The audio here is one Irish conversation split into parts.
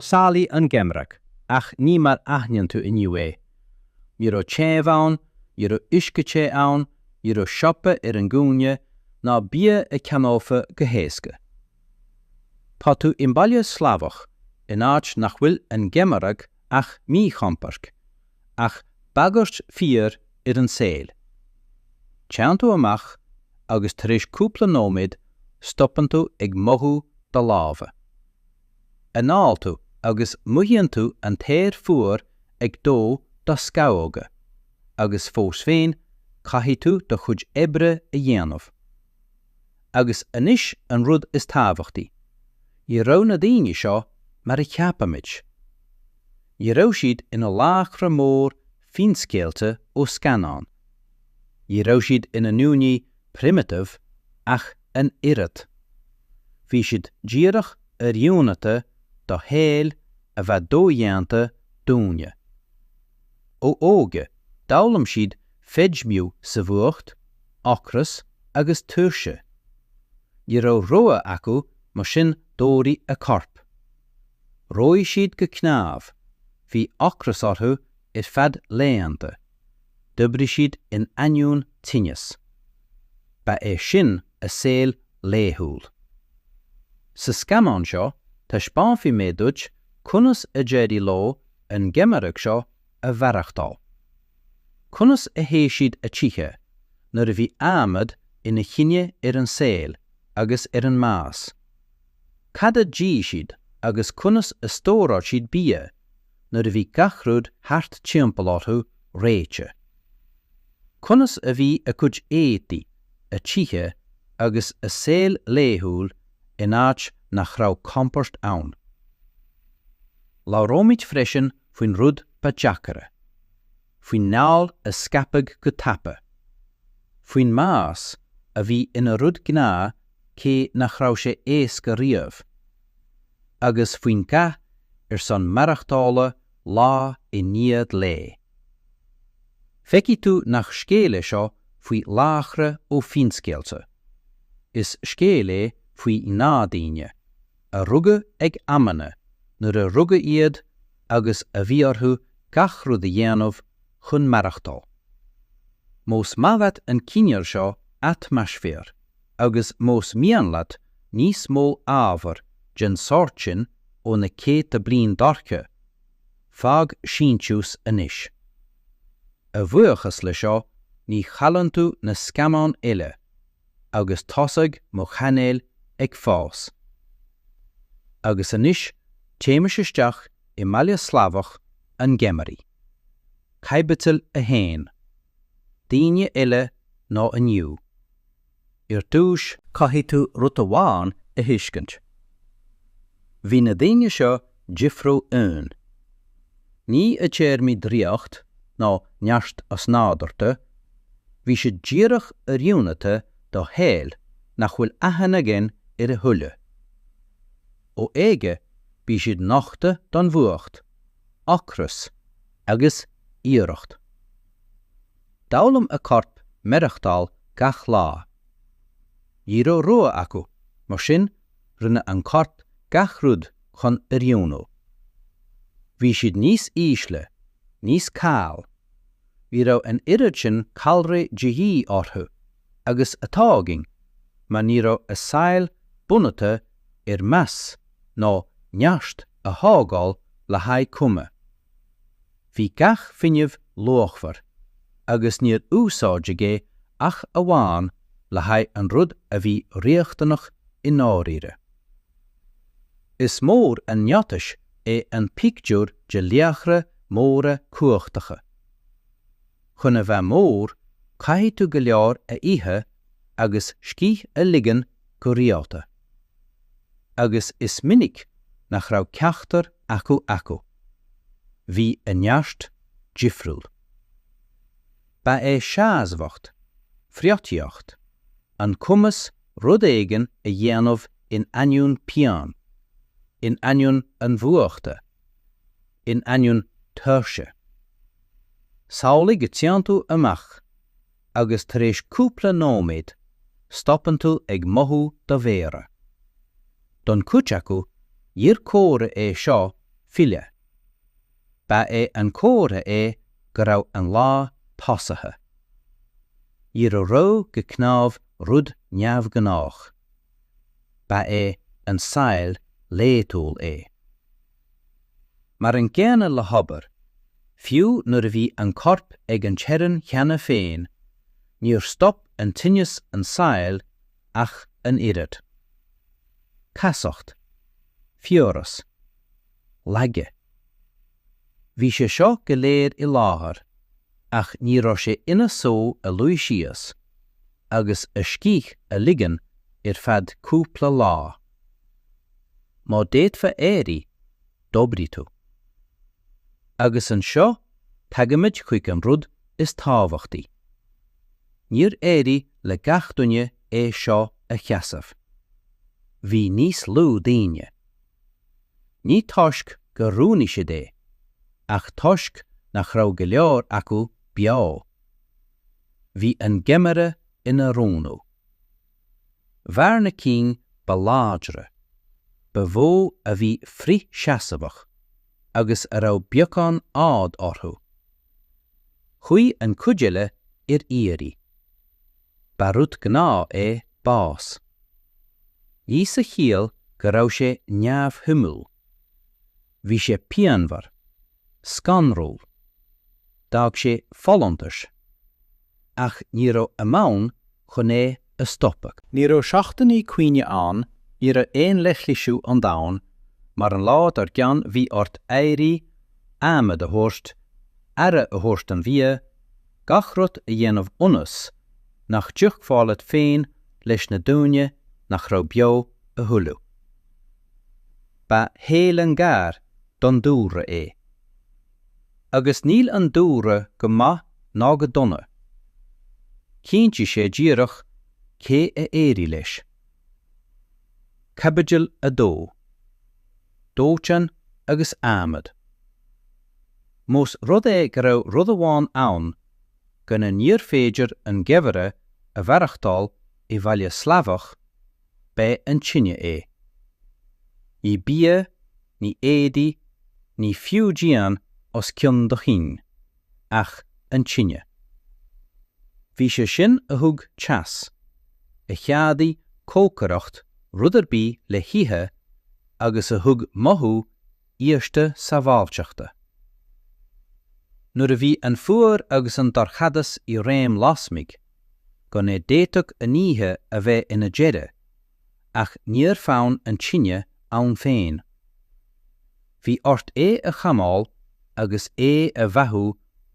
Samhlaigh an geimhreadh ach ní mar aithníonn tú inniu é. Ní raibh téamh ann, ní raibh uisce te ann, ní raibh siopa ar an gcúinne, ná bia a cheannófa go héasca. Tá tú i mbaile Slavach, in áit nach bhfuil an geimhreadh ach míchompord, ach bagairt fíor ar an saol. Téann tú amach agus tar éis cúpla nóiméad stopann tú ag mothú do lámha. anáil tú agus mothaíonn tú an t-aer fuar ag dó do scamhóga, agus fós féin caithfidh tú do chuid oibre a dhéanamh. Agus anois an rud is tábhachtaí, ní raibh na daoine seo mar a cheapaimid. Ní raibh siad ina laochra mór finscéalta ó scannáin. Ní raibh siad ina ndaoine 'primitive' ach an oiread. Bhí siad díreach oiriúnata do shaol a bheadh dodhéanta dúinne. Ó óige, d'fhoghlaim siad feidhmiú sa bhfuacht, ocras agus tuirse. Ní raibh rogha acu mar sin d'fhóireadh a corp. Reoigh siad go cnámh, bhí ocras orthu ar feadh laethanta, d'oibrigh siad in ainneoin tinneas. Ba é sin a saol laethúil. Sa scannán seo taispeánfaidh mé duit conas a d'éirigh leo an geimhreadh seo a mhaireachtáil. Conas a théigh siad a dtithe, nuair a bhí adhmad ina chinneadh ar an saol agus ar an mbás. cad a d'ith siad agus conas a stóráil siad bia nuair a bhí gach rud thart timpeall orthu reoite. Conas a bhí a gcuid éadaí, a dtithe agus a saol laethúil in áit nach raibh compord ann. Labhróimid freisin faoin rud ba deacaire, faoin ngalar a scaipeadh go tapa, faoin mbás a bhí ina rud gnáth cé nach raibh sé éasca riamh, agus faoin gcath ar son maireachtála lá i ndiaidh lae. Feicfidh tú nach scéal é seo faoi laochra ó finscéalta, is scéal é faoi ngnáthdhaoine, a rugadh ag amanna nuair a rugadh iad agus a bhí orthu gach rud a dhéanamh chun maireachtáil. Más maith leat an cineál seo atmaisféar agus más mian leat níos mó ábhar den sórt sin ó na céadta bliain dorcha, fág síntiús anois. A bhuíochas le seo ní chailleann tú na scannáin uile, agus tosóidh mo chainéal ag fás. Agus anois téimis isteach i mbaile Slavach sa gheimhreadh. Caibidil 1. Daoine eile ná inniu. Ar dtúis caithfidh tú rud amháin a thuiscint. Bhí na daoine seo difriúil uainn. Ní i dtéarmaí draíocht nó neart osnádurta, bhí siad díreach oiriúnata do shaol nach bhfuil aithne againn air a thuilleadh. Ó óige bhí siad nochta don bhfuacht, ocras agus iarracht. D'fhoghlaim a corp maireachtáil gach lá. Ní raibh rogha acu, mar sin rinne an corp gach rud chun oiriúnú. Bhí siad níos ísle, níos caoile. Ní raibh an oiread sin calraí de dhíth orthu agus atá againn mar ní raibh a saol bunaithe ar mais nó neart a thógáil le haghaidh cuma. Bhí gach fuinneamh luachmhar agus níor úsáideadh é ach amháin le haghaidh an rud a bhí riachtanach i ndáiríre. Is mór an miotas é an pictiúr de laochra móra cumhachtacha. Chun a bheith mór, caithfidh tú go leor a ithe agus scíth a ligean go rialta. Agus is minic nach raibh ceachtar acu acu. Bhí a neart difriúil. Ba é seasmhacht, friotaíocht, an cumas rud éigin a dhéanamh in ainneoin pian, in ainneoin an fuachta, in ainneoin tuirse. Samhlaigh go dtéann tú amach agus tar éis cúpla nóiméad stopann tú ag mothú do mhéara. Don chuid acu níor comhartha é seo filleadh. Ba é an comhartha é go raibh an lá tosaithe. Ní raibh reo go cnámh rud neamhghnách. Ba é an saol laethúil é. Mar an gcéanna le hobair, fiú nuair a bhí an corp ag an teorainn cheana féin, níor stop an tinneas an saol ach an oiread. Casacht. Fiabhras. lag. Bhí sé seo go léir i láthair ach ní raibh sé ina só a luí síos agus a scíth a ligean ar feadh cúpla lá. Má d'fhéadfá éirí, d'oibrigh tú. Agus anseo tagaimid chuig an rud is tábhachtaí. Níor éirigh le gach duine é seo a sheasamh. Bhí níos lú daoine. Ní toisc gur roghnaigh siad é, ach toisc nach raibh go leor acu beo. Bhí an geimhreadh ina roghnú. Mhair na cinn ba láidre, ba mhó a bhí frithsheasmhach agus a raibh beagán áidh orthu. Chuaidh an cuid eile ar iarraidh. Ba rud gnáth é bás. Ní sa chiall go raibh sé neamhshuimiúil. Bhí sé pianmhar, scanrúil. D'fhág sé folúntais. ach ní raibh am ann chun é a stopadh. Ní raibh seachtainí caointe ann, ní raibh aon leithlisiú ón domhan, mar an lá dár gcionn bhí ort éirí, adhmad a thabhairt, aire a thabhairt don bhia, gach rud a dhéanamh ionas nach dtiocfá leat féin leis na daoine nach raibh beo a thuilleadh. Ba shaol an-ghar don dúlra é. agus níl an dúlra go maith ná go dona. Cinnfidh sé díreach cé a éireoidh leis. Caibidil 2. Dóiteán agus adhmad. Más rud é go raibh rud amháin ann gan é níorbh féidir an geimhreadh a mhaireachtáil i mbaile Slavach, b'é an tine é. Ní bia, ní éadaí, ní fiú díon os cionn do chinn, ach an tine. B'é sin a thug teas, a cheadaigh cócaireacht rud ar bith le hithe agus a thug mothú íosta sábháilteachta. Nuair a bhí an fuar agus an dorchadas i réim lasmuigh, gan é d'fhéadfadh an oíche a bheith ina deireadh, ach níor fhan an tine inti féin. Bhí ort é a choimeád agus é a bheathú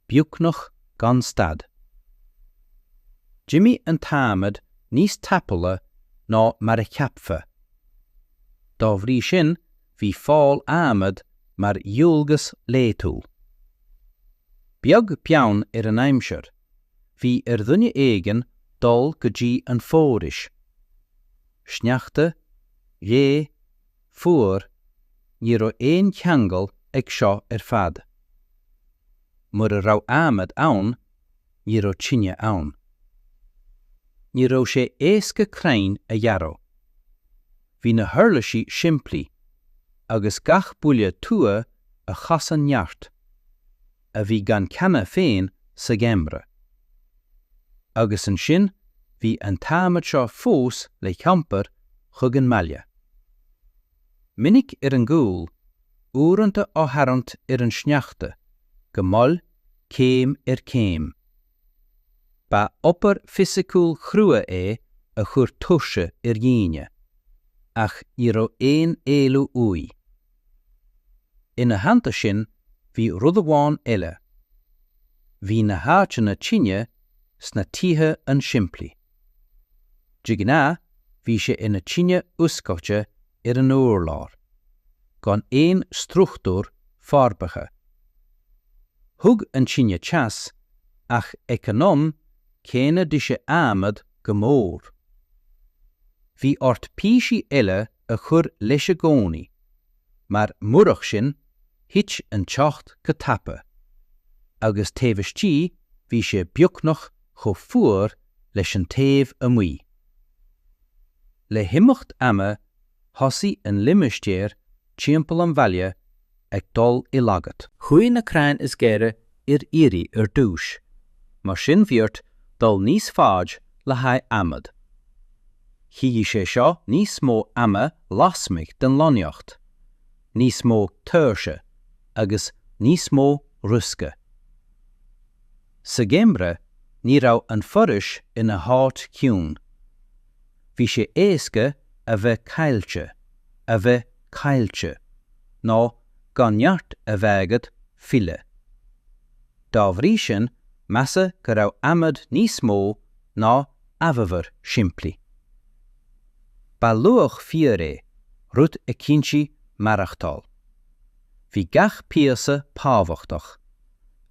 beagnach gan stad. D'imigh an t-adhmad níos tapúla ná mar a cheapfá. Dá bhrí sin bhí fáil adhmaid mar dhualgas laetúil. Beag beann ar an aimsir, bhí ar dhuine éigin dul go dtí an fhoraois. Sneachta, gaoth, fuar, ní raibh aon cheangal ag seo ar fad. Mura raibh adhmad ann, ní raibh tine ann. Ní raibh sé éasca crainn a ghearradh. Bhí na huirlisí simplí, agus gach buille tua a chasann neart. a bhí gann cheana féin sa gheimreadh. Agus ansin bhí an t-adhmad seo fós le hiompar chuig an mbaile. Minic ar an gcúl, uaireanta á tharraingt ar an sneachta, go mall, céim ar chéim. Ba obair fisiciúil chrua é a chuir tuirse ar dhaoine, ach ní raibh aon éalú uaidh. Ina theannta sin, bhí rud amháin eile. Bhí na háiteanna tine sna tithe an-simplí. De ghnáth, bhí sé ina tine oscailte ar an urlár, gan aon struchtúr forbartha. Thug an tine teas ach ag an am céanna d'ith sé adhmad go mór. Bhí ort píosaí eile a chur leis i gcónaí, mar murach sin, thit an teocht go tapa, agus taobh istigh bhí sé beagnach chomh fuar leis an taobh amuigh. Le himeacht ama, thosaigh an limistéar timpeall an bhaile ag dul i laghad. Chuaigh na crainn is gaire ar iarraidh ar dtús, mar sin bhí ort dul níos faide le haghaidh adhmad. Chiallaigh sé seo níos mó ama lasmuigh den lonnaíocht, níos mó tuirse agus níos mó riosca. Sa gheimreadh ní raibh an foraois ina háit chiúin. Bhí sé éasca a bheith caillte, a bheith caillte, ná gan neart a bheith agat filleadh. Dá bhrí sin, measadh go raibh adhmad níos mó ná amhábhar simplí. Ba luach fíor é, rud a chinntigh maireachtáil. Bhí gach píosa tábhachtach,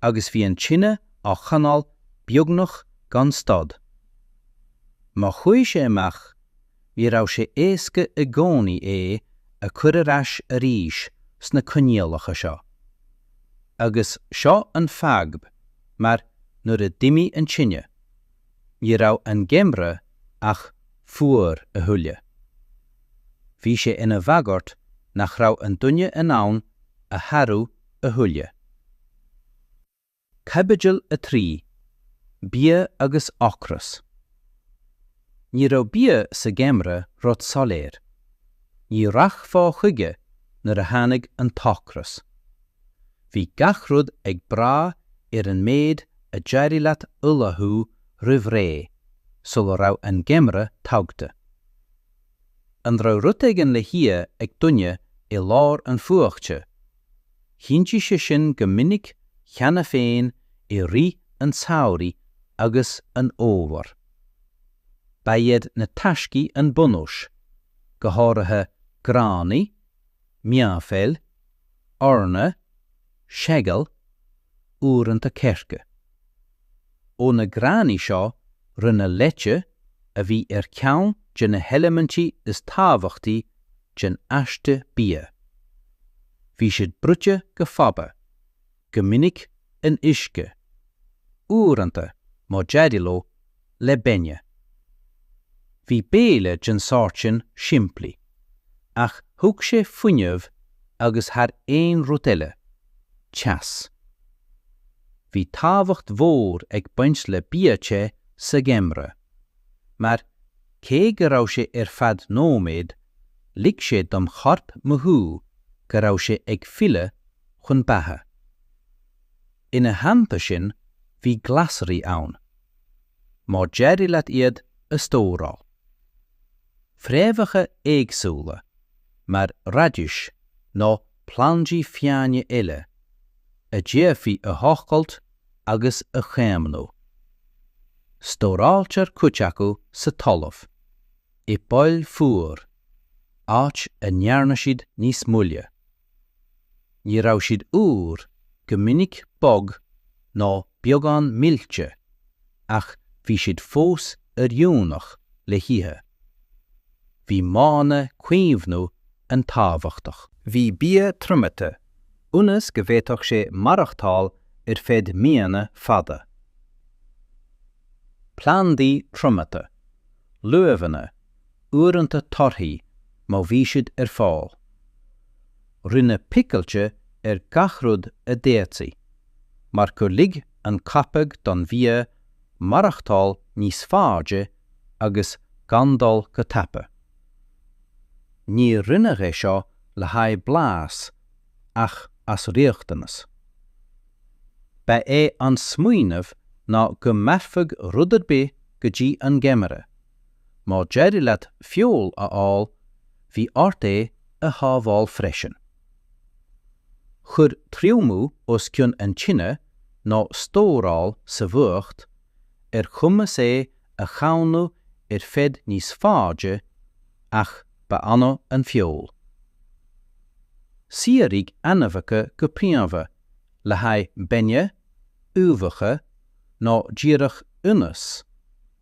agus bhí an tine á choinneáil beagnach gan stad. Má chuaigh sé amach, ní raibh sé éasca i gcónaí é a chur ar ais arís sna coinníollacha seo. Agus seo an fadhb, mar nuair a d'imigh an tine, ní raibh an geimhreadh ach fuar a thuilleadh. Bhí sé ina bhagairt nach raibh an duine in ann a sharú a thuilleadh. Caibidil 3, Bia agus Ocras Ní raibh bia sa ngeimhreadh rud soiléir. Ní rachfá chuige nuair a tháinig an t-ocras. Bhí gach rud ag brath ar an méid a d'éirigh leat ullmhú roimh ré sula raibh an geimhreadh tagtha. An raibh rud éigin le hithe ag duine i lár an fhuachta Chinntigh sé sin go minic cheana féin i rith an tsamhraidh agus an fhómhair. Ba iad na taiscí an bunús, go háirithe gránaigh, meáphoill, eorna, seagal, uaireanta coirce. Ó na gránaigh seo, rinneadh leite, a bhí ar cheann de na heilimintí is tábhachtaí den aiste bia. Bhí siad bruite go fada, go minic in uisce, uaireanta, má d'éirigh leo, le bainne. Bhí béile den sórt sin simplí, ach thug sé fuinneamh agus thar aon rud eile, teas. Bhí tábhacht mhór ag baint le bia te sa gheimreadh, mar, cé go raibh sé ar feadh nóiméad, lig sé don chorp mothú go raibh sé ag filleadh chun beatha. Ina theannta sin, bhí glasraí ann, má d'éirigh leat iad a stóráil. Fréamhacha éagsúla, mar raidis nó plandaí fiáine eile, a d'fhéadfaí a thochailt agus a chaomhnú. Stóráiltear cuid acu sa talamh, i bpoill fhuara, áit a ndearna siad níos moille. Ní raibh siad úr, go minic bog nó beagán millte, ach bhí siad fós oiriúnach le hithe. Bhí modhanna caomhnaithe an-tábhachtach. Bhí bia triomaithe, ionas go bhféadfadh sé maireachtáil ar feadh míonna fada. Plandaí triomaithe, luibheanna, uaireanta torthaí má bhí siad ar fáil. Rinneadh picilte ar gach rud a d'fhéadfaí, mar gur lig an coipeadh don bhia maireachtáil níos faide agus gan dul go tapa. Níor rinneadh é seo le haghaidh blais ach as riachtanas. Ba é an smaoineamh ná go mairfeadh rud ar bith go dtí an geimreadh, Má d'éirigh leat feoil a fháil, bhí ort é a shábháil freisin. Chuir triomú os cionn an tine nó stóráil sa bhfuacht ar chumas é a chaomhnú ar feadh níos faide ach ba annamh an feoil. Saothraíodh ainmhithe go príomha le haghaidh bainne, uibheacha nó díreach ionnas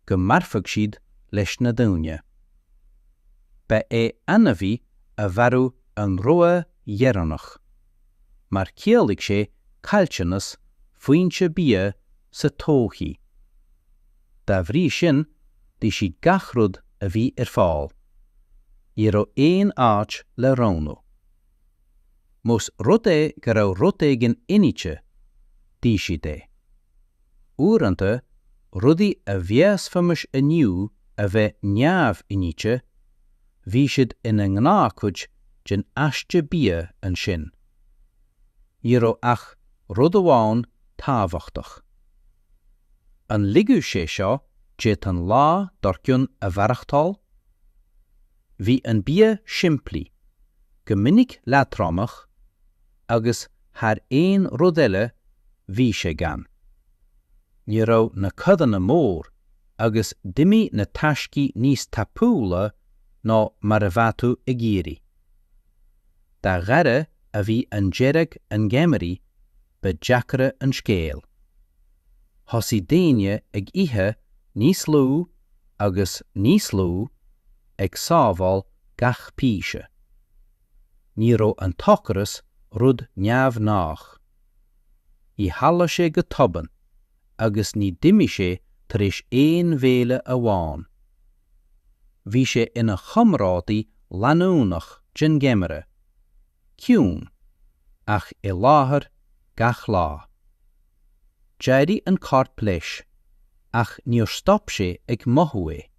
go mairfeadh siad leis na daoine. Ba é ainmhí a mharú an rogha dheireanach, mar chiallaigh sé caillteanas foinse bia sa todhchaí. Dá bhrí sin, d'ith siad gach rud a bhí ar fáil. Ní raibh aon áit le roghnú. Más rud é go raibh rud éigin inite, d'ith siad é. Uaireanta, rudaí a mheasfaimis inniu a bheith neamh-inite, bhí siad ina ngnáthchuid den aiste bia ansin. Ní raibh ach rud amháin tábhachtach. An ligeadh sé seo dóibh an lá dár gcionn a mhaireachtáil? Bhí an bia simplí, go minic leatromach, agus thar aon rud eile bhí sé gann. Ní raibh na codanna mór agus d'imigh na taiscí níos tapúla ná mar a bheadh tú ag iarraidh. Dá ghaire a bhí an deireadh an gheimhridh, ba deacra an scéal. Thosaigh daoine ag ithe níos lú agus níos lú, ag sábháil gach píse. Ní raibh an t-ocras rud neamhghnách. Níor tharla sé go tobann agus ní d'imigh sé tar éis aon bhéile amháin. Bhí sé ina chomrádaí leanúnach den gheimhreadh. ciúin, ach i láthair gach lá. D'éirigh an corp leis, ach níor stop sé ag mothú é.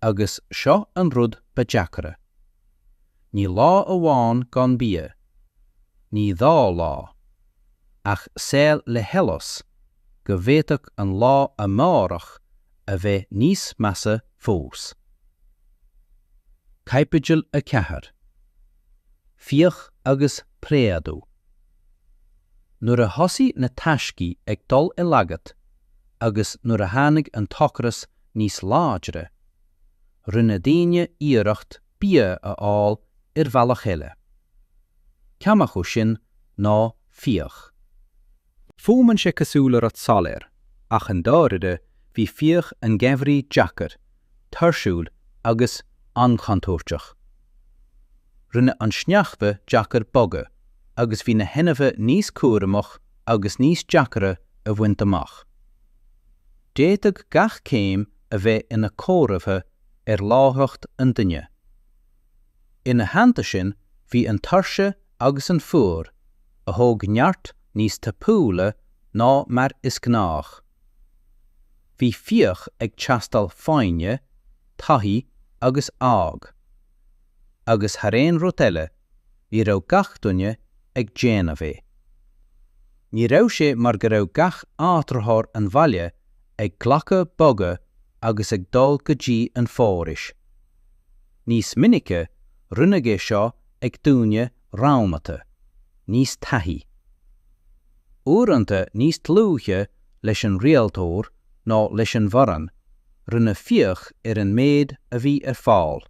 Agus seo an rud ba deacra. Ní lá amháin gan bia, ní dhá lá, ach saol le heolas go bhféadfadh an lá amárach a bheith níos measa fós. Caibidil 4. Fiach agus Préadú. Nuair a thosaigh na taiscí ag dul i laghad agus nuair a tháinig an t-ocras níos láidre, rinne daoine iarracht bia a fháil ar bhealach eile. Ceann acu sin ná fiach. Fuaimeann sé cosúil le rud soiléir, ach i ndáirire bhí fiach an gheimhridh deacair, tuirsiúil agus an-chontúirteach. Rinne an sneachta deacair bogadh agus bhí na hainmhithe níos cúramach agus níos deacaire a bhaint amach. D'fhéadfadh gach céim a bheith ina comhartha ar láithreacht an duine. Ina theannta sin, bhí an tuirse agus an fuacht, a thóg neart níos tapúla ná mar is gnách. Bhí fiach ag teastáil foighne, taithí agus ádh. Agus thar aon rud eile, ní raibh gach duine ag déanamh é. Ní raibh sé mar go raibh gach áitritheoir an bhaile ag glacadh bogha agus ag dul go dtí an fhoraois. Níos minice, rinneadh é seo ag daoine roghnaithe, níos taithí. Uaireanta níos dlúithe leis an rialtóir ná leis an bhfoireann, rinneadh fiach ar an méid a bhí ar fáil.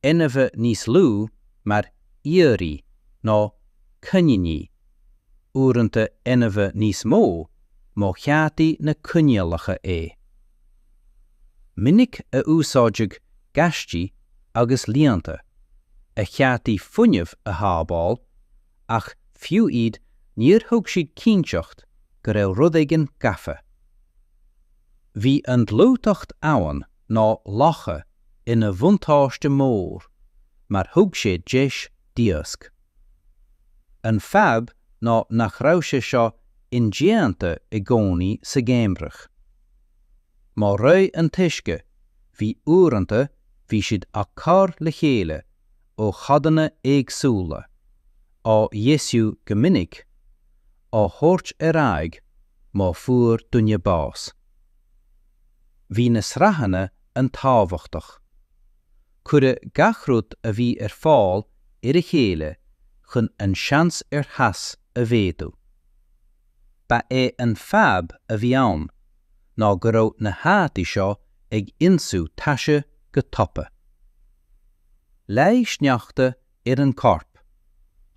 Ainmhithe níos lú mar ioraí nó coiníní, uaireanta ainmhithe níos mó, má cheadaigh na coinníollacha é. minic a úsáideadh gaistí agus líonta, a cheadaigh fuinneamh a shábháil, ach fiú iad níor thug siad cinnteacht go raibh rud éigin gafa. Bhí an dlúthacht abhann nó locha ina bhuntáiste mór mar thug sé deis d'iasc. An fadhb ná nach raibh sé seo indéanta i gcónaí sa gheimhreadh. Má reoigh an t-uisce, bhí uaireanta bhí siad á cur le chéile ó chodanna éagsúla, á dheisiú go minic, á thabhairt ar aghaidh má fuair duine bás. Bhí na sraitheanna an-tábhachtach. Cuireadh gach rud a bhí ar fáil ar a chéile chun an seans ar theas a mhéadú. Ba é an fadhb a bhí ann ná go raibh na héadaí seo ag ionsú taise go tapa. Leáigh sneachta ar an corp,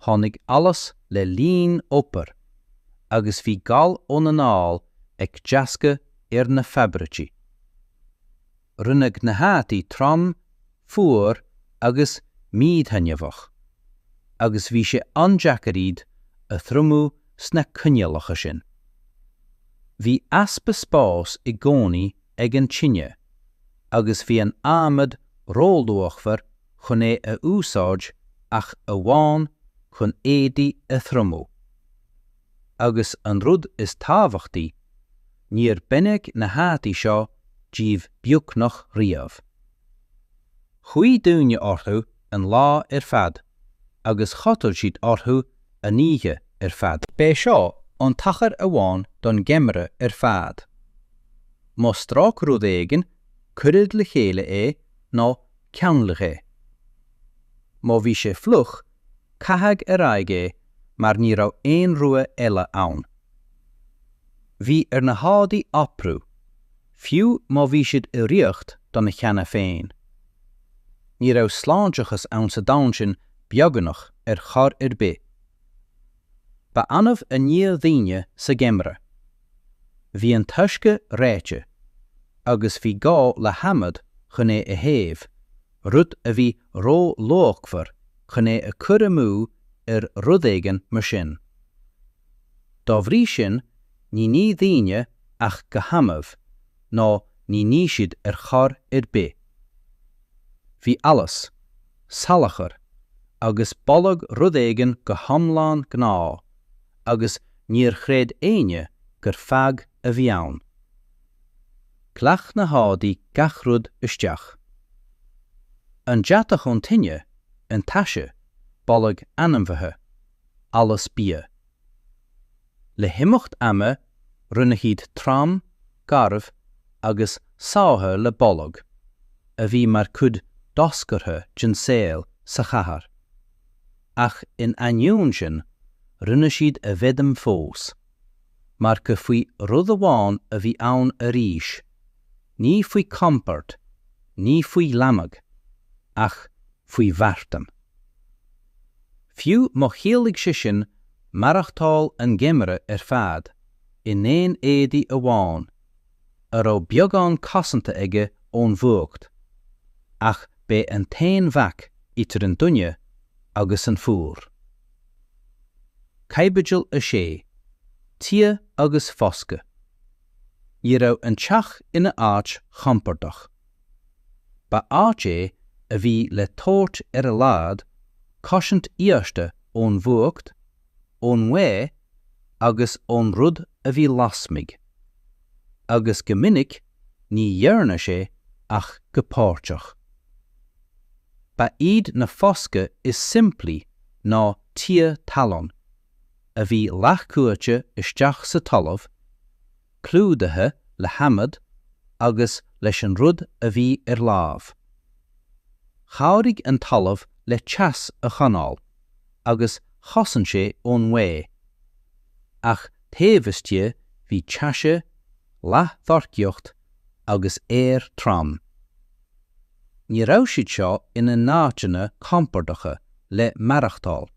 tháinig allas le linn obair agus bhí gal ón anáil ag deascadh ar na fabraicí. Rinneadh na héadaí trom, fuar agus míthaitneamhach, agus bhí sé an-deacair iad a thriomú sna coinníollacha sin. Bhí easpa spáis i gcónaí ag an tine, agus bhí an adhmad róluachmhar chun é a úsáid ach amháin chun éadaí a thriomú. agus an rud is tábhachtaí, níor baineadh na héadaí seo díobh beagnach riamh. Chuaigh daoine orthu an lá ar fad agus chodail siad orthu an oíche ar fad. B'é seo an tacar amháin don gheimhreadh ar fad. Má strac rud éigin, cuireadh le chéile é nó ceanglaíodh é. Má bhí sé fliuch Caitheadh ar aghaidh é mar ní raibh aon rogha eile ann. Bhí ar na héadaí oibriú, fiú má bhí siad i riocht dona cheana féin. Ní raibh sláinteachas ann sa domhan sin beagnach ar chor ar bith. Ba annamh a níodh daoine sa gheimhreadh. Bhí an t-uisce reoite, agus bhí gá le hadhmad chun é a théamh. rud a bhí ró-luachmhar chun é a chur amú ar rud éigin mar sin. Dá bhrí sin, ní nigh daoine ach go hannamh ná ní nigh siad ar chor ar bith. Bhí allas, salachar agus boladh rud éigin go hiomlán gnáth agus níor chreid éinne gur fadhb a bhí ann. Ghlac na héadaí gach rud isteach. An deatach ón tine, an taise, boladh ainmhithe, allas bia. Le himeacht ama rinne siad trom, garbh agus sáithe le boladh a bhí mar chuid doscartha den saol sa chathair. Ach in ainneoin sin, rinne siad a bhfeidhm fós. mar gur faoi rud amháin a bhí ann arís, ní faoi chompord, ní faoi ghlanadh, ach faoi mharthain. Fiú má chiallaigh sé sin maireachtáil an gheimridh ar fad in aon éadaí amháin, a raibh beagán cosanta aige ón bhfuacht, ach b'é an t-aon bhac idir an duine agus an fuar. Caibidil 6. Tithe agus foscadh. Ní raibh an teach ina áit chompordach. Ba áit é a bhí le tabhairt ar a laghad cosaint íosta ón bhfuacht, ón ngaoth agus ón rud a bhí lasmuigh, agus go minic ní dhearna sé ach go páirteach. Ba iad na foscadh is simplí ná tithe talún, a bhí leathchurtha isteach sa talamh, clúdaithe le hadhmad agus leis an rud a bhí ar láimh. Chabhraigh an talamh le teas a choinneáil agus chosain sé ón ngaoth. Ach taobh istigh bhí taise, leathdhorchacht agus aer trom. Ní raibh siad seo ina n-áiteanna compordacha le maireachtáil.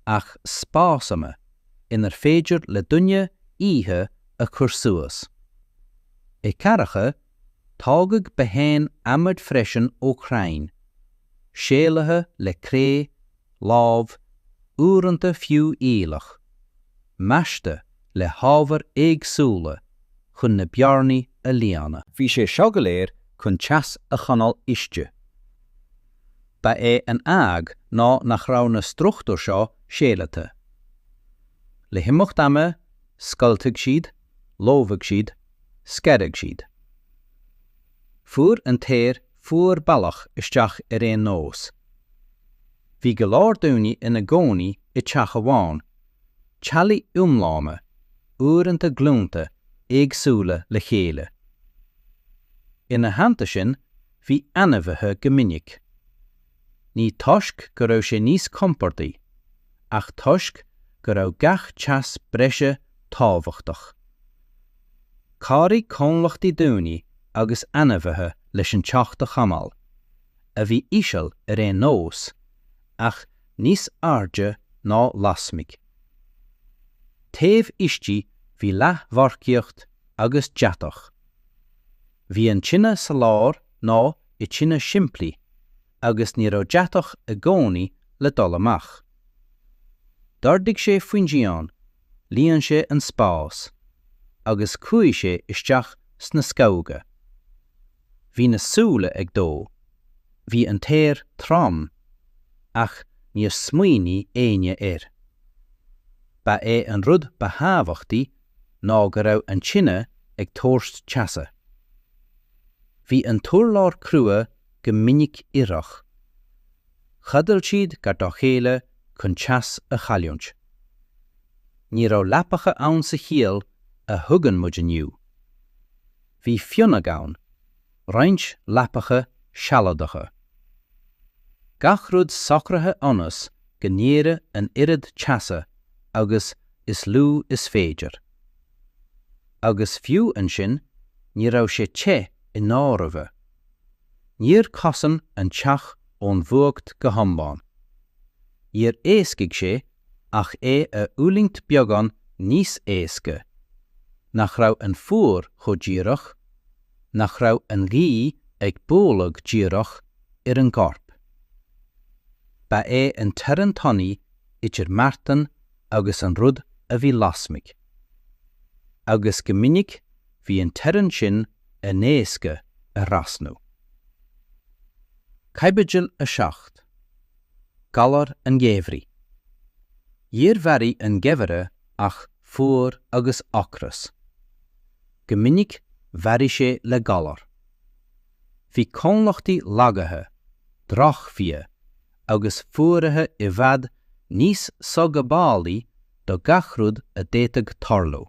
ach spásanna inar féidir le duine oíche a chur suas. I gcathracha, tógadh botháin adhmaid freisin ó chrainn, séalaithe le cré, láib, uaireanta fiú aoileach, measctha le hábhair éagsúla chun na bearnaí a líonadh. Bhí sé seo go léir chun teas a choinneáil istigh. Ba é an fhadhb ná nach raibh na struchtúir seo séalaithe. Le himeacht ama, scoiltfeadh siad, lobhadh siad, scarfadh siad. Fuair an t-aer fuar bealach isteach ar aon nós. Bhí go leor daoine ina gcónaí i dteach amháin, teaghlaigh iomlána, uaireanta glúnta éagsúla le chéile. Ina theannta sin, bhí ainmhithe go minic. Ní toisc go raibh sé níos compordaí, ach toisc go raibh gach teas breise tábhachtach. Chabhraigh comhlachtaí daoine agus ainmhithe leis an teocht a chothabháil, a bhí íseal ar aon nós, ach níos airde ná lasmigh. Taobh istigh bhí leathdhorchacht agus deatach. Bhí an tine sa lár nó i dtine shimplí agus ní raibh deatach i gcónaí le dul amach. D'ardaigh sé faoin díon, líon sé an spás, agus chuaigh sé isteach sna scamhóga. Bhí na súile ag dó, bhí an t-aer trom, ach níor smaoinigh éinne air. Ba é an rud ba thábhachtaí ná go raibh an tine ag tabhairt teasa. Bhí an t-urlár crua go minic ithreach. Chodail siad gar dá chéile chun teas a chailliúint. Ní raibh leapacha ann sa chiall a thuigeann muid inniu. Bhí fionnadh ann. roinnt leapacha sealadacha. Gach rud socraithe ionas go n-éireadh an oiread teasa agus is lú is féidir. Agus fiú ansin, ní raibh sé te i ndáiriribhe. Níor chosain an teach ón bhfuacht go hiomlán. Níor éascaigh sé ach é a fhulaingt beagán níos éasca, nach raibh an fuacht chomh díreach, nach raibh an ghaoth ag bualadh díreach ar an gcorp. Ba é an teorainn tanaí idir marthain agus an rud a bhí lasmuigh, agus go minic bhí an teorainn sin an-éasca a thrasnú. Caibidil 7. Galar an Gheimhridh. Níor mharaigh an Geimhreadh ach fuacht agus ocras. Go minic mharaigh sé le galar. Bhí colainneacha lagaithe, drochbhiata agus fuaraithe i bhfad níos soghabhálaí do gach rud a d'fhéadfadh tarlú.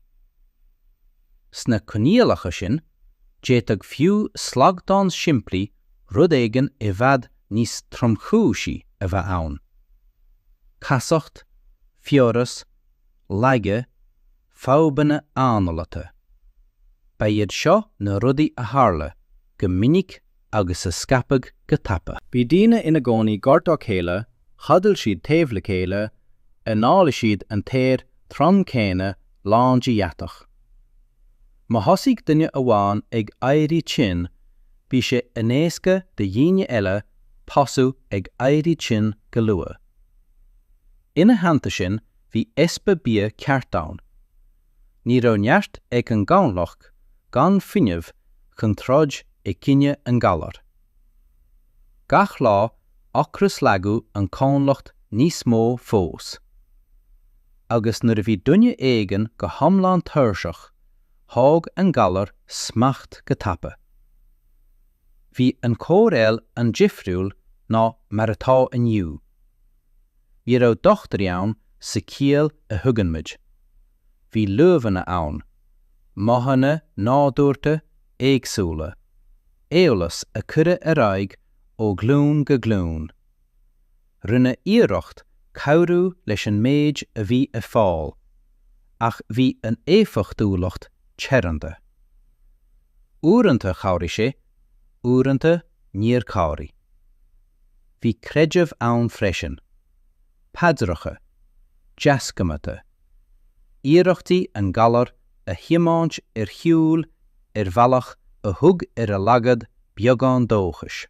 Sna coinníollacha sin, d'fhéadfadh fiú slaghdán simplí rud éigin i bhfad níos tromchúisí a bheith ann. Casacht, fiabhras, laige, fadhbanna análata. Ba iad seo na rudaí a tharla go minic agus a scaipeadh go tapa. Bhí daoine ina gcónaí gar dá chéile, chodail siad taobh le chéile, análaigh siad an t-aer trom céanna lán de dheatach. Má thosaigh duine amháin ag éirí tinn, bhí sé an-éasca do dhaoine eile tosú ag éirí tinn go luath. Ina theannta sin, bhí easpa bia ceart ann. ní raibh neart ag an gcomhlacht gan fuinneamh chun troid i gcoinne an ghalair. Gach lá ocrais lagaíodh an comhlacht níos mó fós. Agus nuair a bhí duine éigin go hiomlán tuirseach, thóg an galar smacht go tapa. Bhí an chóireáil an-difriúil ná mar atá inniu. Ní raibh dochtúirí ann sa chiall a thuigeann muid. Bhí luibheanna ann, modhanna nádúrtha éagsúla, eolas a cuireadh ar aghaidh ó ghlúin go glúin. Rinneadh iarracht cabhrú leis an méid a bhí ar fáil, ach bhí an éifeachtúlacht teoranta. Uaireanta chabhraigh sé, uaireanta níor chabhraigh. Bhí creideamh ann freisin. Paidreacha. Deasghnátha. Iarrachtaí an galar a thiomáint ar shiúil ar bhealach a thug ar a laghad beagán dóchais.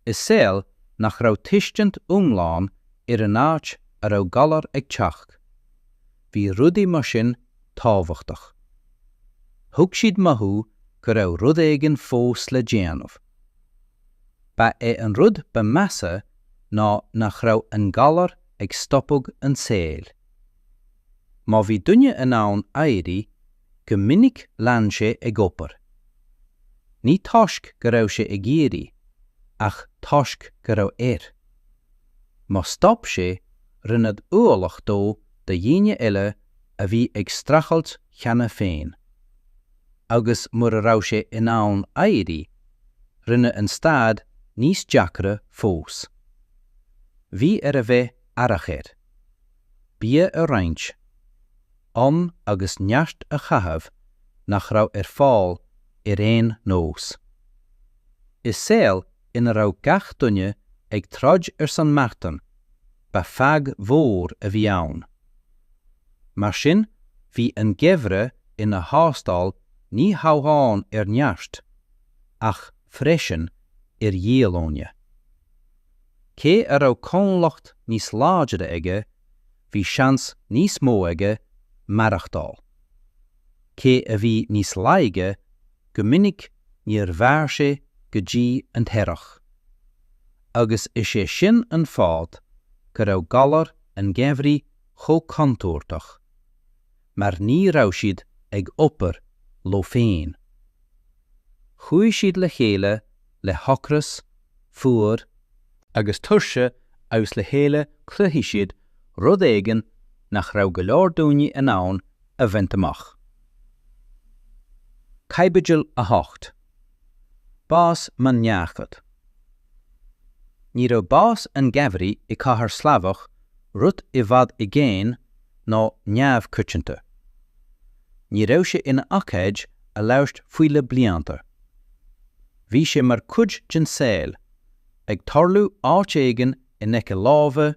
I saol nach raibh tuiscint iomlán ar an áit a raibh galar ag teacht, bhí rudaí mar sin tábhachtach. Thug siad mothú go raibh rud éigin fós le déanamh. Ba é an rud ba mheasa ná nach raibh an galar ag stopadh an tsaoil. Má bhí duine in ann éirí, go minic lean sé ag obair. Ní toisc go raibh sé ag iarraidh, ach toisc go raibh air. Má stop sé, rinneadh ualach dó do dhaoine eile a bhí ag streachailt cheana féin. agus mura raibh sé in ann éirí, rinne an staid níos deacra fós. Bhí air a bheith aireach air, bia a roinnt, am agus neart a chaitheamh nach raibh ar fáil ar aon nós. I saol ina raibh gach duine ag troid ar son marthain, ba fadhb mhór a bhí ann. Mar sin, bhí an geimhreadh ina thástáil ní hamháin ar neart, ach freisin ar dhíolúine. Cé a raibh comhlacht níos láidre aige, bhí seans níos mó aige maireachtáil. Cé a bhí níos laige, go minic níor mhair sé go dtí an t-earrach. Agus is é sin an fáth go raibh galar an gheimhridh chomh contúirteach, mar ní raibh siad ag obair leo féin. Chuaigh siad le chéile le hocras, fuar, agus tuirse agus le chéile chruthaigh siad rud éigin nach raibh go leor daoine in ann a bhaint amach. Caibidil 8. Bás Maine Neachd Ní raibh bás an gheimhridh i cathair Shlavach rud i bhfad i gcéin nó neamhchoitianta. Ní raibh sé ina ócáid a labhairt faoi le blianta. Bhí sé mar chuid den saol, ag tarlú áit éigin in aice láimhe,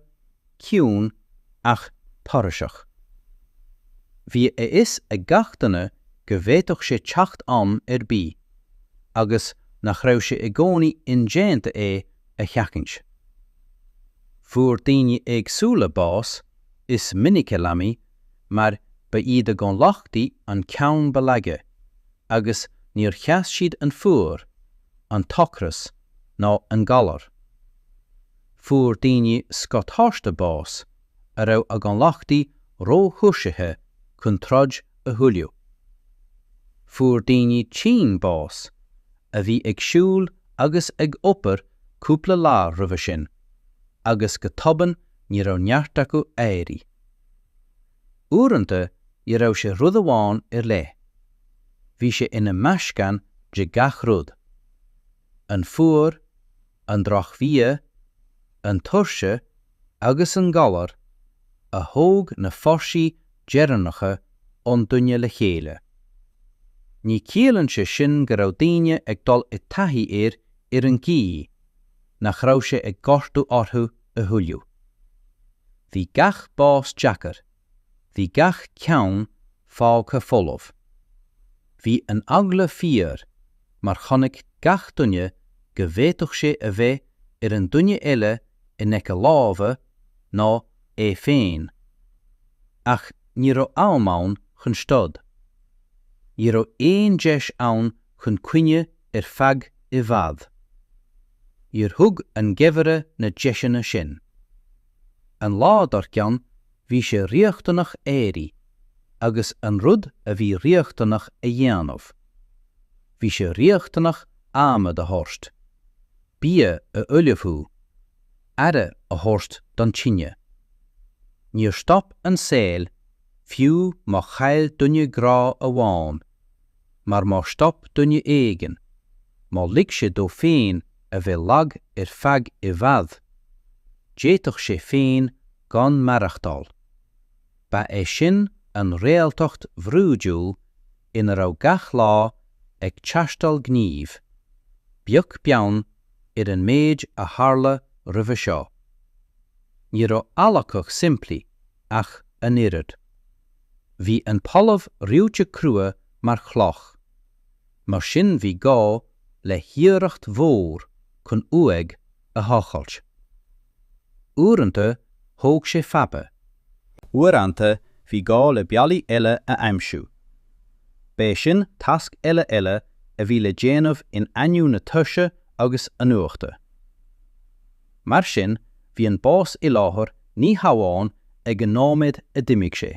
ciúin ach tairiseach. Bhí a fhios ag gach duine go bhféadfadh sé teacht am ar bith, agus nach raibh sé i gcónaí indéanta é a sheachaint. Fuair daoine éagsúla bás, is minic leanaí, mar ba iad a gcomhlachtaí an ceann ba laige, agus níor sheas siad an fuacht, an t-ocras, ná an galar. Fuair daoine scothaosta bás a raibh a gcomhlachtaí ró-thuirsithe chun troid a thuilleadh. Fuair daoine tinn bás a bhí ag siúl agus ag obair cúpla lá roimhe sin agus go tobann ní raibh neart acu éirí. Uaireanta ní raibh sé rud amháin ar leith, bhí sé ina mheascán de gach rud. an fuacht, an drochbhia, an tuirse agus an galar a thóg na fórsaí deireanacha ón duine le chéile. Ní chiallaíonn sé sin go raibh daoine ag dul i dtaithí air ar an gcaoí nach raibh sé ag gortú orthu a thuilleadh. Bhí gach bás deacair bhí gach ceann fágtha folamh. Bhí an eagla fíor, mar chonaic gach duine go bhféadfadh sé a bheith ar an duine eile in aice láimhe nó é féin. Ach ní raibh am ann chun stad. Ní raibh aon deis ann chun caoineadh ar feadh i bhfad. Níor thug an geimhreadh na deiseanna sin. An lá dár gcionn, bhí sé riachtanach éirí agus an rud a bhí riachtanach a dhéanamh. Bhí sé riachtanach adhmad a thabhairt, bia a ullmhú, aire a thabhairt don tine. Níor stop an saol, fiú má chaill duine grá amháin. mar má stop duine éigin, má lig sé dó féin a bheith lag ar feadh i bhfad, d'fhéadfadh sé féin gan maireachtáil. Ba é sin an réaltacht bhrúidiúil ina raibh gach lá ag teastáil gníomh, beag beann ar an méid a tharla roimhe seo. Ní raibh adhlacadh simplí ach an oiread. Bhí an talamh reoite crua mar chloch, mar sin bhí gá le hiarracht mhór chun uaigh a thochailt. Uaireanta thóg sé fada. Uaireanta bhí gá le bealaí eile a aimsiú. B'é sin tasc eile eile a bhí le déanamh in ainneoin na tuirse agus an fhuachta. Mar sin, bhí an bás i láthair ní hamháin ag an nóiméad a d'imigh sé.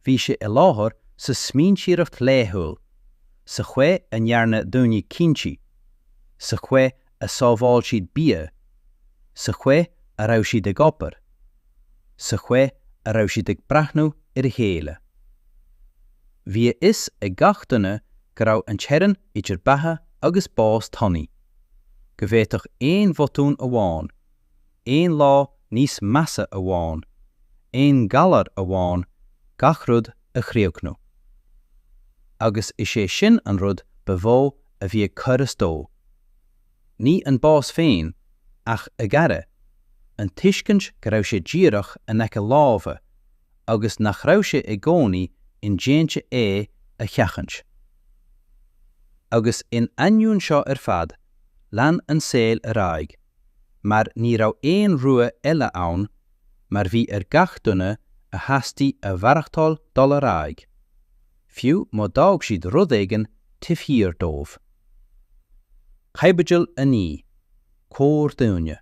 Bhí sé i láthair sa smaointeoireacht laethúil, sa chaoi a ndearna daoine cinntí, sa chaoi a sábháil siad bia, sa chaoi a raibh siad ag obair, sa chaoi a raibh siad ag breathnú ar a chéile. Bhí a fhios ag gach duine go raibh an teorainn idir beatha agus bás tanaí. go bhféadfadh aon bhotún amháin, aon lá níos measa amháin, aon ghalar amháin gach rud a chríochnú. Agus is é sin an rud ba mhó a bhí ag cur as dó. Ní an bás féin, ach a ghaire, an tuiscint go raibh sé díreach in aice láimhe, agus nach raibh sé i gcónaí indéanta é a sheachaint. Agus in ainneoin seo ar fad, lean an saol ar aghaidh, mar ní raibh aon rogha eile ann, mar bhí ar gach duine a theastaigh a mhaireachtáil dul ar aghaidh, fiú má d'fhág siad rud éigin taobh thiar dóibh. Caibidil 9. Corrdhuine.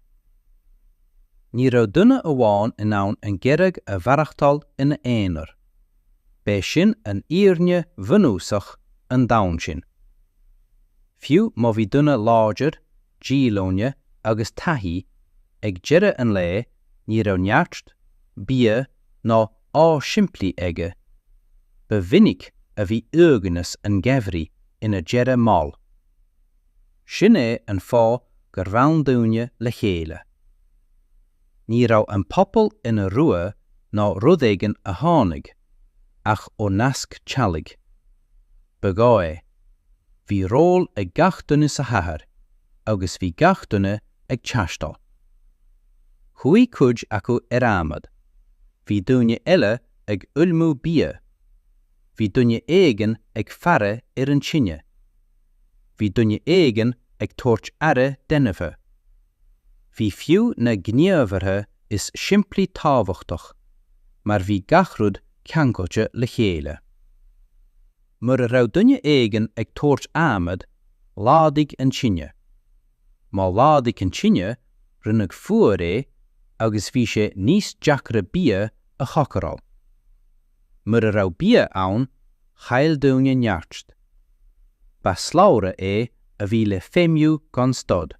Ní raibh duine amháin in ann an gheimhridh a mhaireachtáil ina aonar. B'é sin an fhírinne bhunúsach an domhain sin. Fiú má bhí duine láidir, díolúine agus taithí, ag deireadh an lae ní raibh neart, bia ná ádh simplí aige. Ba mhinic a bhí uaigneas an gheimhridh ina dheireadh mall. Sin é an fáth gur fhan daoine le chéile. Ní raibh an pobal ina rogha ná rud éigin a tháinig ach ó nasc teaghlaigh. Ba ghá é. Bhí ról ag gach duine sa chathair agus bhí gach duine ag teastáil. Chuaigh cuid acu ar adhmad, bhí daoine eile ag ullmú bia, bhí duine éigin ag faire ar an tine. bhí duine éigin ag tabhairt aire d'ainmhithe. Bhí fiú na gníomhartha is simplí tábhachtach, mar bhí gach rud ceangailte le chéile. Mura raibh duine éigin ag tabhairt adhmad, laghdaigh an tine. Má laghdaigh an tine, rinneadh fuar é agus bhí sé níos deacra bia a chócaráil. Mura raibh bia ann, chaill daoine neart. Ba shlabhra é a bhí le feidhmiú gan stad.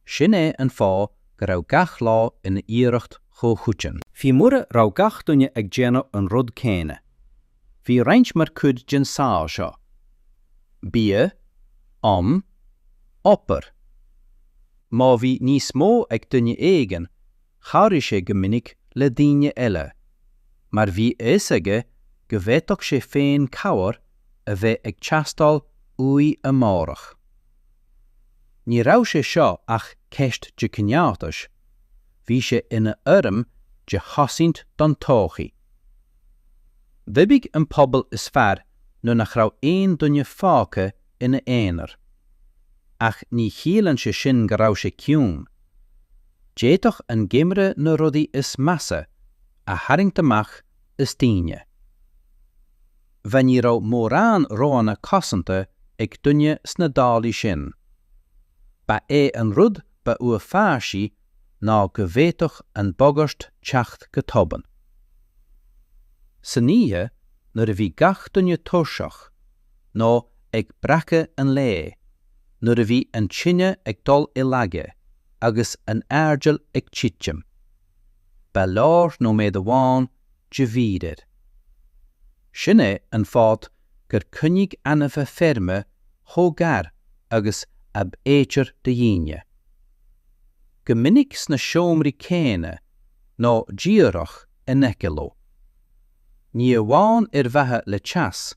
Sin é an fáth go raibh gach lá ina iarracht chomhchoiteann. Fiú mura raibh gach duine ag déanamh an rud céanna, bhí roinnt mar chuid den saol seo. Bia, am, obair. Má bhí níos mó ag duine éigin, chabhraigh sé go minic le daoine eile, mar bhí a fhios aige go bhféadfadh sé féin cabhair a bheith ag teastáil uaidh amárach. Ní raibh sé seo ach ceist de chineáltas, bhí sé ina fhoirm de chosaint don todhchaí. D'oibrigh an pobal is fearr nuair nach raibh aon duine fágtha ina aonar. Ach ní chiallaíonn sé sin go raibh sé ciúin. D'fhéadfadh an geimhreadh na rudaí is measa a tharraingt amach as daoine. Ní raibh mórán roghanna cosanta ag duine sna dálaí sin. Ba é an rud ba uafáisí ná go bhféadfadh an bhagairt teacht go tobann. San oíche, nuair a bhí gach duine tuirseach, nó ag breacadh an lae, nuair a bhí an tine ag dul i laige agus an airdeall ag titim. Ba leor nóiméad amháin de mhí-aire. Sin é an fáth gur coinníodh ainmhithe feirme chomh gar agus ab fhéidir do dhaoine. Go minic sna seomraí céanna nó díreach in aice leo. ní amháin ar mhaithe le teas,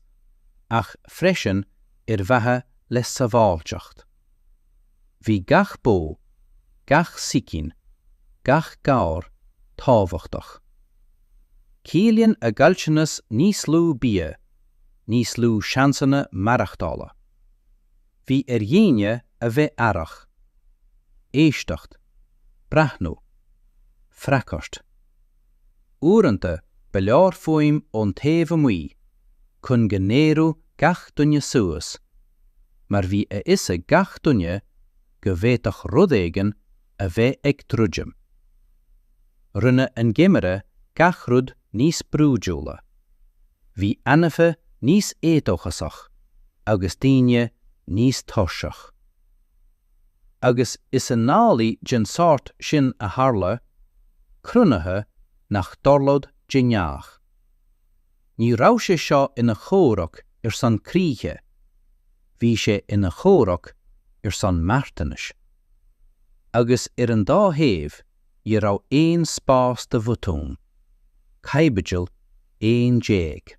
ach freisin ar mhaithe le sábháilteacht. Bhí gach bó, gach sicín, gach gabhar, tábhachtach. Ciallaíonn a gcaillteanas níos lú bia, níos lú seansanna maireachtála. Bhí ar dhaoine a bheith aireach. Éisteacht. Breathnú. Freagairt. Uaireanta ba leor fuaim ón taobh amuigh chun go n-éireodh gach duine suas, mar bhí a fhios ag gach duine go bhféadfadh rud éigin a bheith ag druidim. Rinne an geimhreadh gach rud níos brúidiúla. Bhí ainmhithe níos éadóchasach agus daoine níos tuirseach. agus is i ndálaí den tsórt sin a tharla cruinnithe nach dtarlódh de ghnáth. Ní raibh sé seo ina chomhrac ar son críche, bhí sé ina chomhrac ar son marthanais. Agus ar an dá thaobh ní raibh aon spás do bhotúin. Caibidil 11.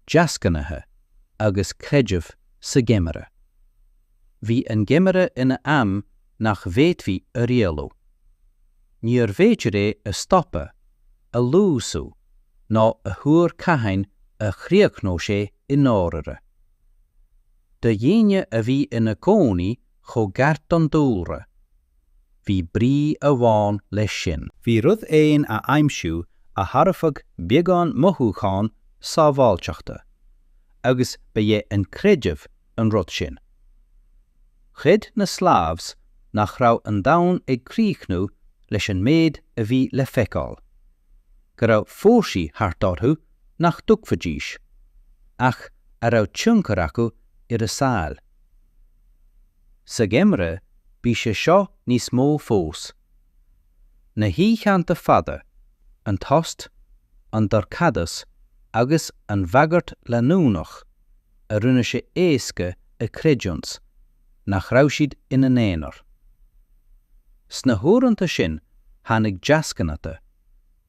deasghnátha agus creideamh sa gheimhreadh. Bhí an geimhreadh ina am nach bhféadfaí a rialú. Níor bhféidir é a stopadh, a luasú ná a thuar cathain a chríochnódh sé i ndáirire. Do dhaoine a bhí ina gcónaí chomh gar don dúlra, Bhí brí amháin leis sin. Bhí rud éigin a aimsiú a thabharfadh beagán mothúchán sábháilteachta, agus ba é an creideamh an rud sin. Chreid na Slavs nach raibh an domhan ag críochnú leis an méid a bhí le feiceáil, go raibh fórsaí thart orthu nach dtuigfidís, ach a raibh tionchar acu ar a saol. Sa gheimhreadh bhí sé seo níos mó fós. Na hoícheanta fada, an tost, an dorchadas agus an bhagairt leanúnach a rinne sé éasca a chreidiúint nach raibh siad ina n-aonar. Sna huaireanta sin tháinig deasghnátha,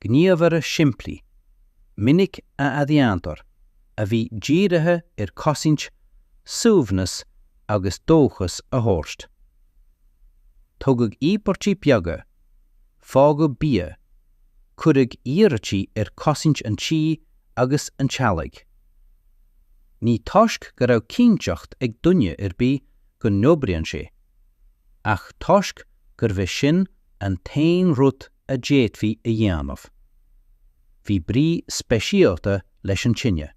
gníomhartha simplí, minic a athdhéantar, a bhí dírithe ar chosaint, suaimhneas agus dóchas a thabhairt. Tugadh íobairtí beaga, fágadh bia, cuireadh iarrataí ar chosaint an tí agus an teaghlaigh. Ní toisc go raibh cinnteacht ag duine ar bith go n-oibreann sé, ach toisc gurbh é sin an t-aon rud a d'fhéadfaí a dhéanamh. Bhí brí speisialta leis an tine.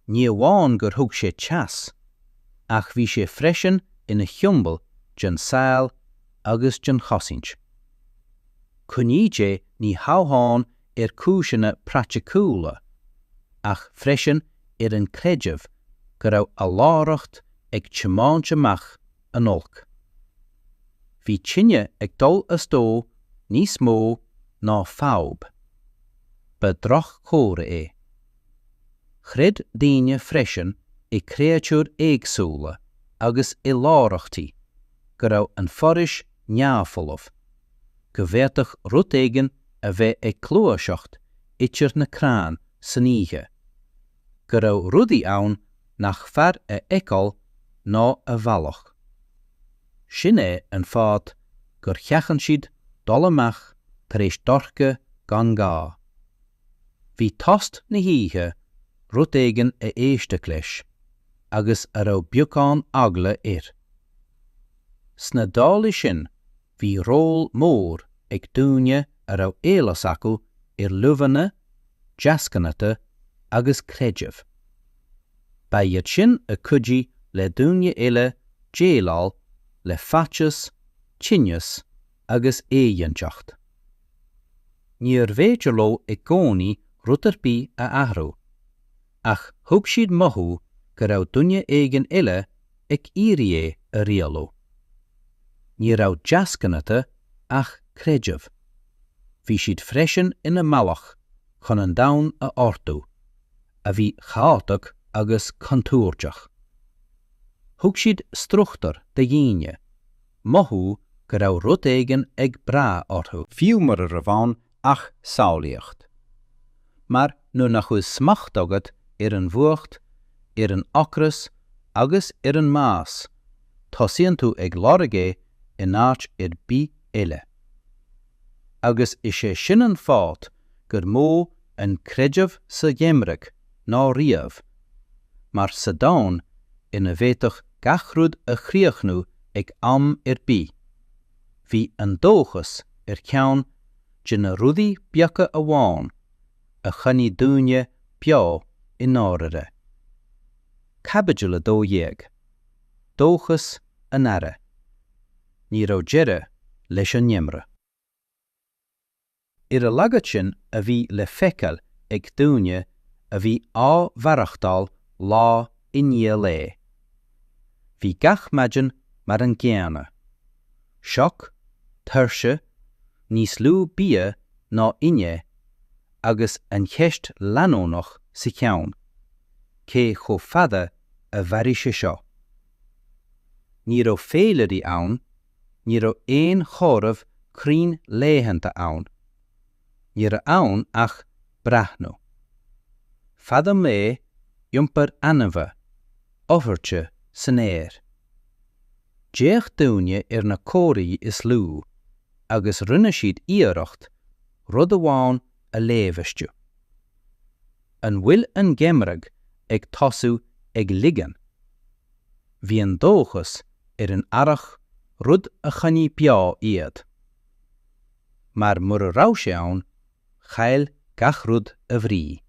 Ní amháin gur thug sé teas, ach bhí sé freisin ina shiombail den saol agus den chosaint. Coinníodh é ní hamháin ar chúiseanna praiticiúla, ach freisin ar an gcreideamh go raibh a láithreacht ag tiomáint amach an oilc. Bhí tine ag dul as dó níos mó ná fadhb. Ba dhroch-chomhartha é. Chreid daoine freisin i gcréatúir éagsúla agus i láithreachtaí, go raibh an foraois neamhfholamh, go bhféadfadh rud éigin a bheith ag gluaiseacht idir na crainn san oíche, go raibh rudaí ann nach fearr a fheiceáil ná a bhealach. Sin é an fáth gur sheachain siad dul amach tar éis dorcha gan gá. Bhí tost na hoíche, rud éigin a éisteadh leis agus a raibh beagán eagla air. Sna dálaí sin Bhí ról mór ag daoine a raibh eolas acu ar luibheanna, deasghnátha agus creideamh. Ba iad sin a chuidigh le daoine eile déileáil le faitíos, tinneas agus éiginnteacht. Níorbh fhéidir leo i gcónaí rud ar bith a athrú. ach thug siad mothú go raibh duine éigin eile ag iarraidh é a rialú. Ní raibh deasghnátha ach creideamh. Bhí siad freisin ina mbealach chun an domhan a ordú, a bhí chaotach agus contúirteach. Thug siad struchtúr do dhaoine, mothú go raibh rud éigin ag brath orthu. Fiú mura raibh ann ach samhlaíocht. Mar nuair nach bhfuil smacht agat ar an bhfuacht, ar an ocras agus ar an mbás, tosaíonn tú á lorg é in áit ar bith eile. Agus is é sin an fáth gur mó an creideamh sa gheimhreadh ná riamh, mar sa domhan ina bhféadfadh gach rud a chríochnú ag am ar bith, bhí an dóchas ar cheann de na rudaí beaga amháin a choinnigh daoine beo i ndáirire. Caibidil 12. Dóchas an Earraigh. Ní raibh deireadh leis an ngeimreadh. Ar a laghad sin a bhí le feiceáil ag daoine a bhí á mhaireachtáil lá i ndiaidh lae. Bhí gach maidin mar an gcéanna. sioc, tuirse, níos lú bia ná inné agus an cheist leanúnach sa cheann, cé chomh fada a mhairfidh sé seo? Ní raibh féilirí ann, ní raibh aon chomhaireamh cruinn laethanta ann, ní raibh ann ach breathnú. Fad an lae, iompar ainmhithe, athruithe san aer. D'fhéach daoine ar na comharthaí is lú agus rinne siad iarracht rud amháin a léamh astu. An bhfuil an geimhreadh ag tosú ag ligean? Bhí an dóchas ar an earrach rud a choinnigh beo iad. Mar mura raibh sé ann, chaill gach rud a bhrí.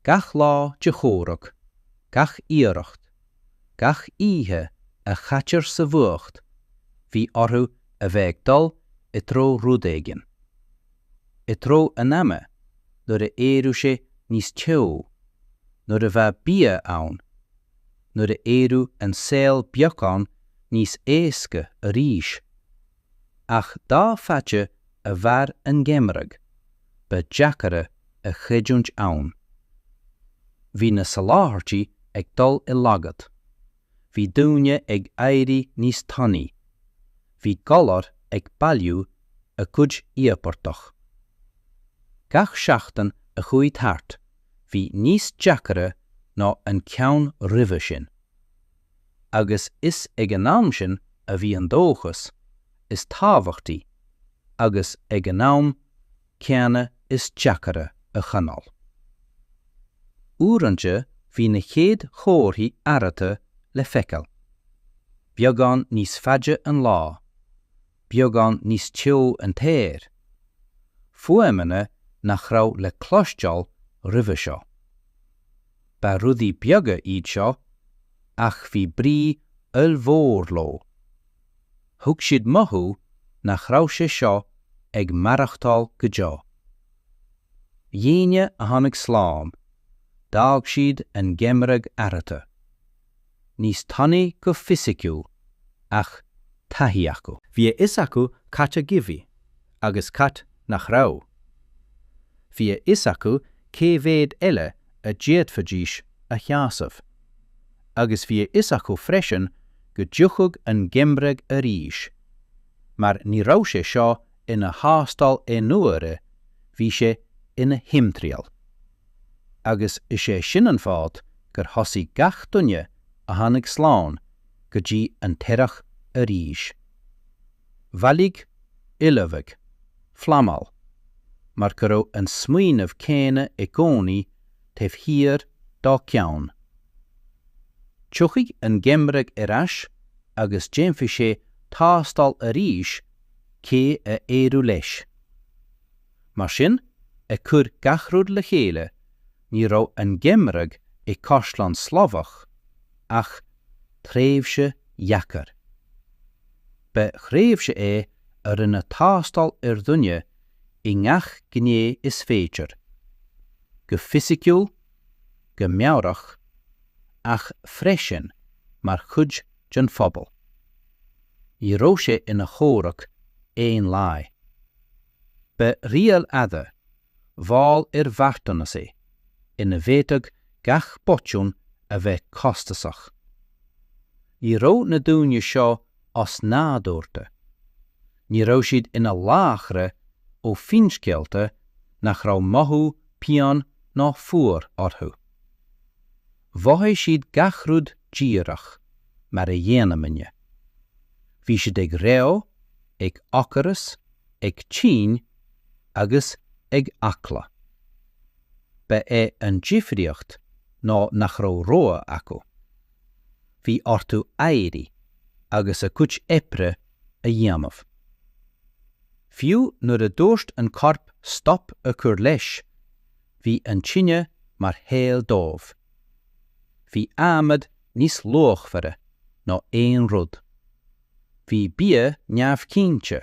Gach lá de chomhrac, gach iarracht, gach oíche a chaitear sa bhfuacht, bhí orthu a bheith ag dul i dtreo rud éigin. I dtreo an ama, nuair a éireodh sé níos teo, nuair a bheadh bia ann, nuair a éireodh an saol beagán níos éasca arís. ach dá fhaide a mhair an geimhreadh, ba deacaire a chreidiúint ann. Bhí na soláthairtí ag dul i laghad, bhí daoine ag éirí níos tanaí, bhí galair ag bailiú a gcuid íobartach. Gach seachtain a chuaigh thart, bhí níos deacaire ná an ceann roimhe sin. agus is ag an am sin a bhí an dóchas is tábhachtaí agus ag an am céanna is deacaire a choinneáil. Uaireanta bhí na chéad chomharthaí athraithe le feiceáil beagán níos faide an lá beagán níos teo an t-aer, fuaimeanna nach raibh le cloisteáil roimhe seo. Ba rudaí beaga iad seo ach bhí brí ollmhór leo. Thug siad mothú nach raibh sé seo ag maireachtáil go deo. Éinne a tháinig slán, d'fhág siad an geimhreadh athraithe. níos tanaí go fisiciúil, ach taithí acu. Bhí a fhios acu cad a bhí agus cad nach raibh. Bhí a fhios acu cé mhéad eile a d'fhéadfaidís a sheasamh. Agus bhí a fhios acu freisin go dtiocfadh an geimhreadh arís, mar ní raibh sé seo ina thástáil aonuaire, bhí sé ina thimthriall. agus is é sin an fáth gur thosaigh gach duine a tháinig slán go dtí an t-earrach arís. Bailiú, ullmhú, pleanáil, mar go raibh an smaoineamh céanna i gcónaí taobh thiar dá gceann. Tiocfaidh an geimreadh ar ais agus déanfaidh sé tástáil arís cé a éireoidh leis. Mar sin, ag cur gach rud le chéile, ní raibh an Geimhreadh i gCaisleán Slavach ach tréimhse dheacair. Ba thréimhse é a rinne tástáil ar dhuine i ngach gné is féidir, go fisiciúil, go meabhrach, ach freisin mar chuid den phobal. Ní raibh sé ina chomhrac aon lae. Ba rialadh fada, mhall ar bheartanas é, ina bhféadfadh gach botún a bheith costasach. Ní raibh na daoine seo osnádúrtha. Ní raibh siad ina laochra ó finscéalta nach raibh mothú pian ná fuar orthu. Mhothaigh siad gach rud díreach mar a dhéanaimidne. Bhí siad ag reo, ag ocras, ag tinn agus ag eagla. Ba é an difríocht ná nach raibh rogha acu. Bhí orthu éirí agus a gcuid oibre a dhéanamh. Fiú nuair a dúirt an corp stop a chur leis, bhí an tine mar shaol dóibh. Bhí adhmad níos luachmhaire ná aon rud. Bhí bia neamhchinnte,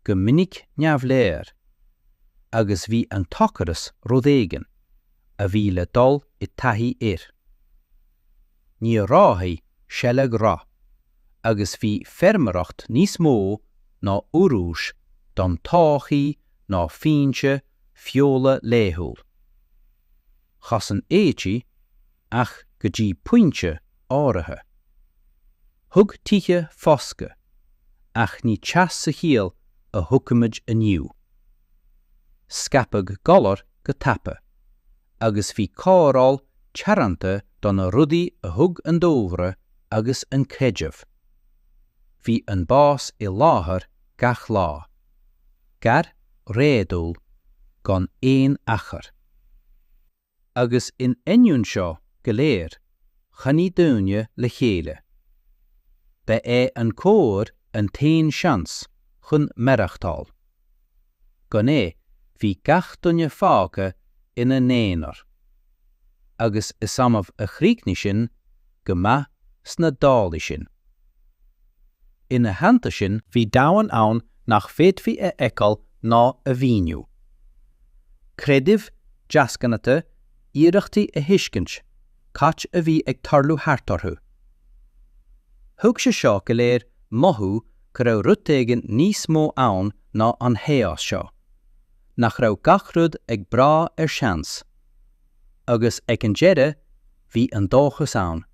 go minic neamhleor, agus bhí an t-ocras rud éigin a bhí le dul i dtaithí air. ní raibh seilg rathúil agus bhí feirmeoireacht níos mó ná urrús don todhchaí ná foinse feola laethúil. Chosain éadaí, ach go dtí pointe áirithe. Thug tithe foscadh, ach ní teas sa chiall a thuigimid inniu. Scaipeadh galair go tapa, agus bhí cóireáil teoranta do na rudaí a thug an dúlra agus an creideamh. Bhí an bás i láthair gach lá. Gar, réadúil, gan aon achar. Agus in ainneoin seo go léir, choinnigh daoine le chéile. Ba é an comhar an t-aon seans chun maireachtáil. Gan é bhí gach duine fágtha ina n-aonar. Agus is annamh a chríochnaigh sin go maith sna dálaí sin. Ina theannta sin, bhí domhan ann nach bhféadfaí a fheiceáil ná a mhíniú, creidimh, deasghnatha, iarrachtaí a thuiscint, cad a bhí ag tarlú thart orthu. Thug sé seo go léir mothú go raibh rud éigin níos mó ann ná an chaos seo, nach raibh gach rud ag brath ar seans. Agus ag an deireadh bhí an dóchas ann.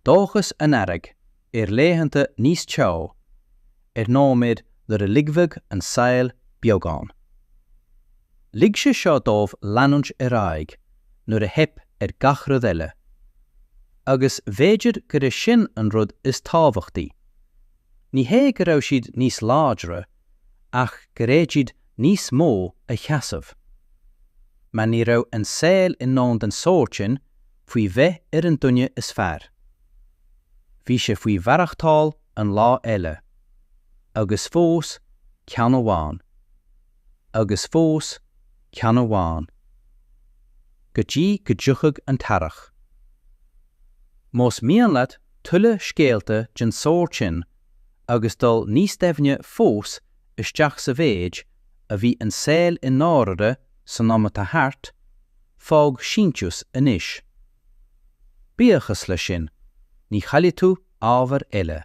Dóchas an Earraigh. ar laethanta níos teo, ar nóiméid nuair a ligfeadh an saol beagán. Lig sé seo dóibh leanúint ar aghaidh nuair a theip ar gach rud eile. Agus b'fhéidir gur e sin an rud is tábhachtaí. Ní hé go raibh siad níos láidre, ach gur fhéad siad níos mó a sheasamh. Mar ní raibh an saol in ann den sórt sin, faoi bheith ar an duine is fearr. Bhí sé faoi mhaireachtáil an lá eile. Agus fós ceann amháin. Agus fós ceann amháin. Go dtí go dtiocfadh an t-earrach. Más mian leat tuilleadh scéalta den sórt sin agus dul níos doimhne fós isteach sa mhéid a bhí an saol i ndáirire san am atá thart, fág síntiús anois. Buíochas leis sin, ní chaillfidh tú ábhar eile.